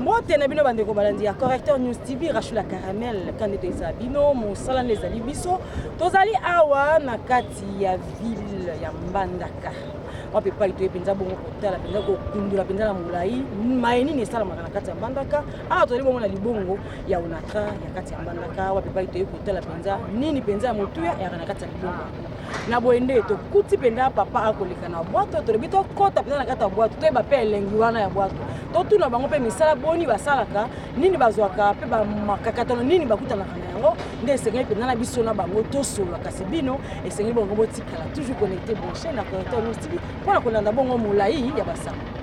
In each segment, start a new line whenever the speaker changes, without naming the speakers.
mbote na bino bandeko balandi ya correcteur news tv rashula caramel kandeto ezala bino mosala nde ezali biso tozali awa na kati ya ville ya mbandaka wapi epai toye mpenza bongo kotala mpenza kokundola mpenza na molai maye nini esalamaka na kati ya mbandaka awa tozali bongo na libongo ya onatra ya kati ya mbandaka wapi epai toye kotala mpenza nini mpenza ya motuya eyaka na kati ya libongo na boye nde tokuti mpenza papa akoleka na bwato tolobi tokɔta mpenza na kati ya bwato toyeba mpe elengi wana ya bwato totuna bango mpe misala boni basalaka nini bazwaka mpe bamakakatano nini bakutanaka na yango nde esengeli mpenza na biso na bango tosolola kasi bino esengeli bongo botikala toujours connecte branche na connecte lustv mpo na kolanda bongo molai ya basango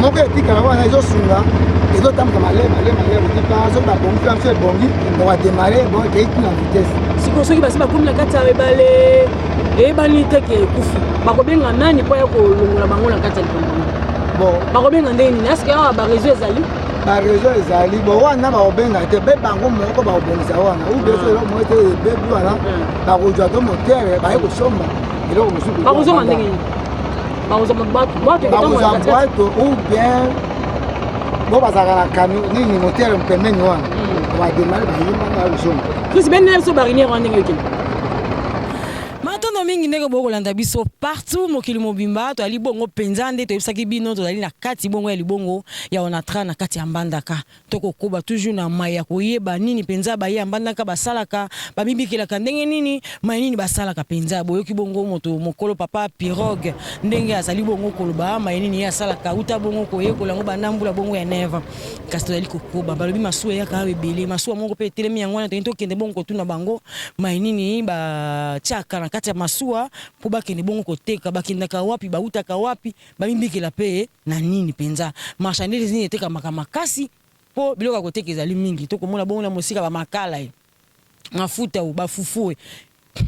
moko etikala wana ezosunga ezotambuka malai malai malai kotika soki babongi mpe biso ebongi bakademare ekei tina vitese sikoyo soki basi bakomi
na kati ya ebale eyebani te ke ekufi bakobenga nani mpo ya kolongola bango na kati ya likambo bon bakobenga
ndenge nini
eske awa bareseau ezali bareseau ezali
bo wana bakobenga te mpe bango moko bakobongisa wana ou bien eloko moko te ebebi wana bakozwa to motere baye kosomba eloko mosusu bakozonga ndenge nini
bakozwa
bwato ou bien bo bazalaka na camion nini motere mpembeni wana hmm. bademare bayimba na ozonga krisi bendela biso bariniere
wana ndenge okende matondo mingi ndenge bokoki kolanda biso partout mokili mobimba toyali bongo mpenza nde toyebisaki bino tozali na kati bongo ya libongo ya onatra na kati ya mbandaka Tokokoba toujours na mai ya koyeba nini mpenza baye ya mbandaka basalaka, bamibikelaka ndenge nini, mai nini basalaka mpenza. Boyoki bongo moto mokolo Papa Pirogue ndenge azali bongo koloba mai nini ye asalaka, uta bongo koyekola yango banda mbula bongo ya 9 ans. Kasi tozali kokoba, balobi masuwa eyaka awa ebele, masuwa moko mpe etelemi, yango wana tolingi tokende bongo kotuna bango mai nini batiaka na kati ya masuwa mpo bakende bongo koteka, bakendaka wapi, bautaka wapi. Bamibikela mpe na nini mpenza? Marchandise nini etekamaka makasi mpo biloko ya koteka ezali mingi? Tokomona bongo na mosika bamakala e mafuta o bafufu e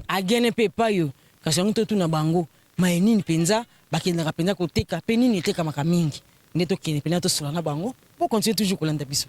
agene mpe epai o kasi yango totuna bango maye nini mpenza bakendaka mpenza koteka mpe nini etekamaka mingi nde tokende mpenza tosola na bango po continue toujours kolanda biso.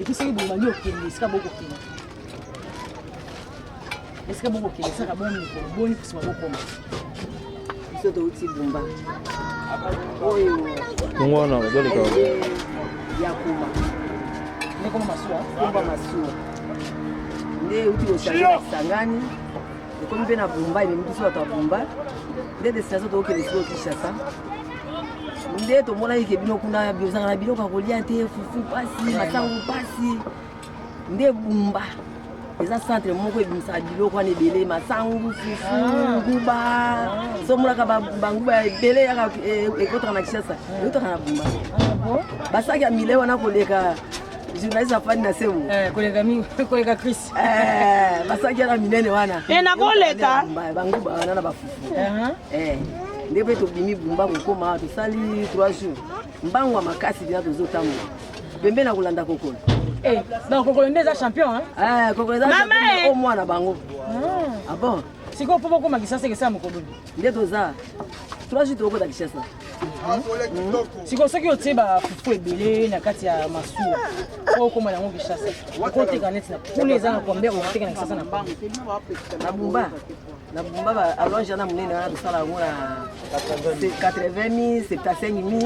epuis soki bobandi okende esika bokokende esika bokokende esaka boni mikolo boni kusima bokoma biso touti bumba oyo yango
wana bazoleka ya
kuma ndekoma masuwa kumba masuwa nde euti koshange na kisangani ekomi mpe na bumba ememi biso bato ya bumba nde destination tookende sikoyo kinshasa nde tomonaki ke bino kuna bozanga na biloko ya kolia te fufu mpasi masango mpasi nde bumba eza centre moko ebimisaka biloko wana ebele masangu fufu ah. nguba ah. somonaka banguba ebele yaka e, ekotaka na kishasa ah. ekotaka na bumba basaki ya mile wana koleka journaliste afandi na sebo eh, koleka mingi koleka cris eh, basaki yana minene wana eh, nakoleka banguba wana na bafufu Eh, nde mpe tobimi bumba kokoma awa tosali 3 jours mbango ya makasi bina tozotambola pembe na kolanda kokolo eh, donc kokolo nde eza champion eh, kokolo eza eh. o mwana bango ah. ah bon sikoyo mpo bokoma kisasa ekesala mokolo nde toza 3 jours tokokota kishasa hmm. sikoyo soki otie bafufu ebele na kati ya masuwa oyo okoma yango kishasa okoteka neti na kuna eza na kombe okoteka na kisasa na mbango na bumba na bumba ba allonge wana monene wana tosala yango na 80 mi 75 mi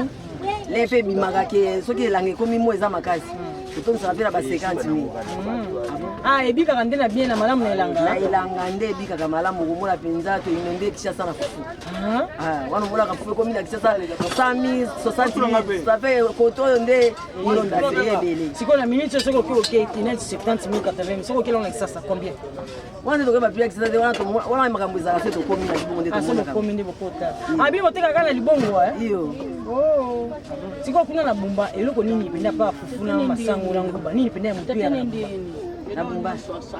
le mpe ebimaka ke soki elanga ekomi mo eza makasi totondisaka mpe na ba 50 mi ah ebikaka nde na bien na malamu na elanga na elanga nde ebikaka malamu okomona mpenza toyino nde kishasa na fufu ah. Ah, wana omonaka fufu ekomi na kishasa 100 60 ça fait koto oyo nde molonda te ebele sikoyo na minute soki oki okei neti 70 80 soki okeli ona kishasa combien wana nde tokoyeba piakisa te wana wana makambo ezala se tokomi na libongo nde tokomi nde bokota abi boteka kaka na libongo iyo sikoyo kuna na bumba eloko nini mpenza pa fufu na masango na nguba nini mpenza ya motu ya na bumba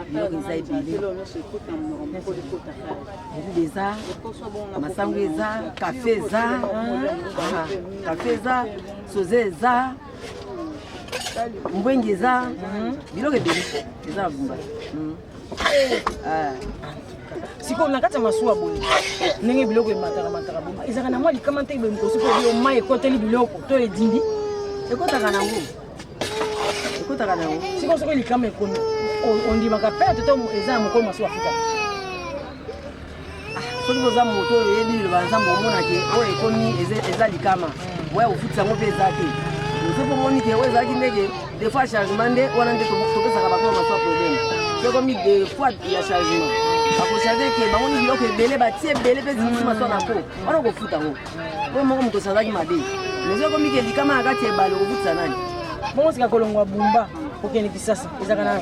biloko eza ebele elude eza masango eza kafe eza kafe eza soze eza mbwengi eza mhm. biloko ebele eza na bumba mhm. eh. ah. sikoyo na kati ya masuwa boye ndenge biloko emataka mataka bo ezalaka na mwa likama nte boye mokosi mpo yo mai ekoteli biloko to edindi ekotaka nango ekotaka nango sikoyo soki likama ekomi ondimaka perte to eza ya mokolo masuwa futa soki boza moto oyo oyebi liloba nzambe omona ke oyo ekomi eza likama mm. oya kofutisa yango mpe eza te soki omoni ke oyo ezalaki ndeke des
fois chargement nde wana nde topesaka bango maswa problème soki ekomi des fois ya chargement bakocharge ke bango ni biloko ebele batie ebele mpe zingisi maswa na po wana okofuta yango oyo moko moto osazaki mabe mais soki ekomi ke likama na kati ya ebale okofutisa nani bongo sika kolongwa
bumba kokende kisasa ezalaka na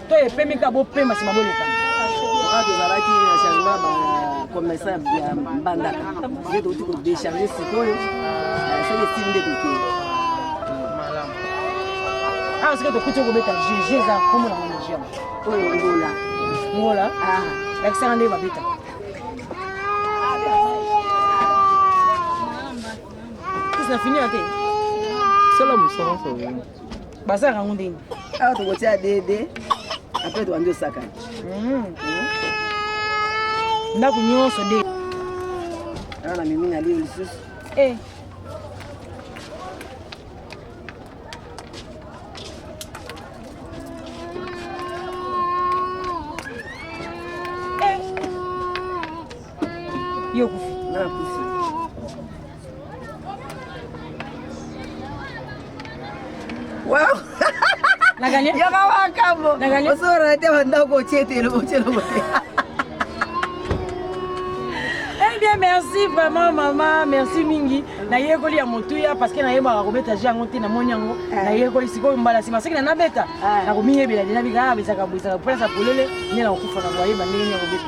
To epemi ka bo pema sima boleka. Kaka tozalaki
na changement ba commerçant ya Mbandaka. Nde touti ko décharger sikoyo. Soki esili nde tokei.
Awa soki tokuti okobeta jeu, jeu eza kombo na ngo jeu. Oyo ngola.
Ngola?
Ah. Lakisaka nde babeta. Sisi na fini ya te. Sala
mosala solo. basalaka
yango ndenge awa tokotia
dede apres tobandi osakana hmm.
ndako nyonso de
awa na mimi na lio lisusu eh.
eh. yokufi
Wow.
Naganye? Yaka wakambo.
Naganye? Osora te
wanda ko
chete lo chelo mo.
Eh bien merci vraiment maman, merci mingi. Na yekoli ya motuya parce que na yebaka ko beta jango te na moni yango. Eh. Na yekoli sikoyo mbala sima seki na na beta. Eh. Na ko miyebela dina bika ah, bisaka bisaka pesa polele ni na kufa na boye bande ni ko beta.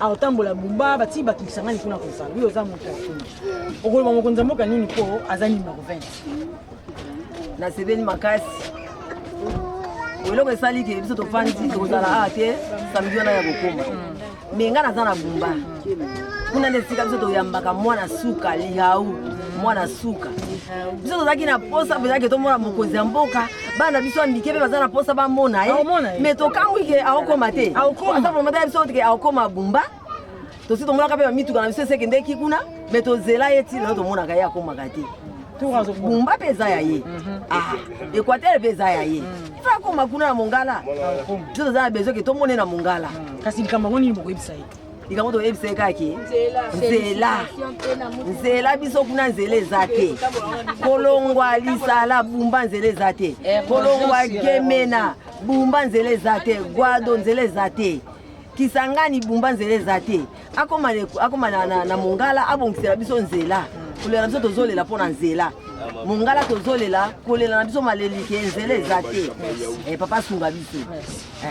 akotambola bumba batii bato lisangani kuna kozala yo oza moto ya kuna okoloba mokonzi ya mboka nini mpo aza nini na kovene
nasepeli makasi eloko esali ke biso tofandi tokozala awa te samedi wana ya kokoma me ngai naza na bumba kuna nde esika biso toyambaka mwana suka lihau mwana suka biso tozalaki na posa mpenza ke tomona mokonzi ya mboka bana na biso ya mike mpe baza na mposa bamona ye me tokamwi ke aokoma te aza promota ya biso ke aokoma bumba tosi tomonaka mpe bamituka na biso esekendeki kuna me tozela ye ntina tomonaka ye akomaka te bumba mpe eza ya ye mhm. ah, equateur mpe eza ya ye mhm. ifa akoma kuna na mongala biso toza na besoin ke tomone na mongala mhm. kasi likambo yango nini
bokoyebisa ye likambo toyebisa ye
kaki nzela nzela biso kuna nzela eza te kolongwa lisala bumba nzela eza te eh, kolongwa gemena bumba nzela eza te gwado nzela eza te kisangani bumba nzela eza te akoma, akoma na, na, na mongala abongisela biso nzela kolela na biso tozolela mpo na nzela mongala tozolela kolela na biso malelike nzela eza te eh, papa asunga biso eh.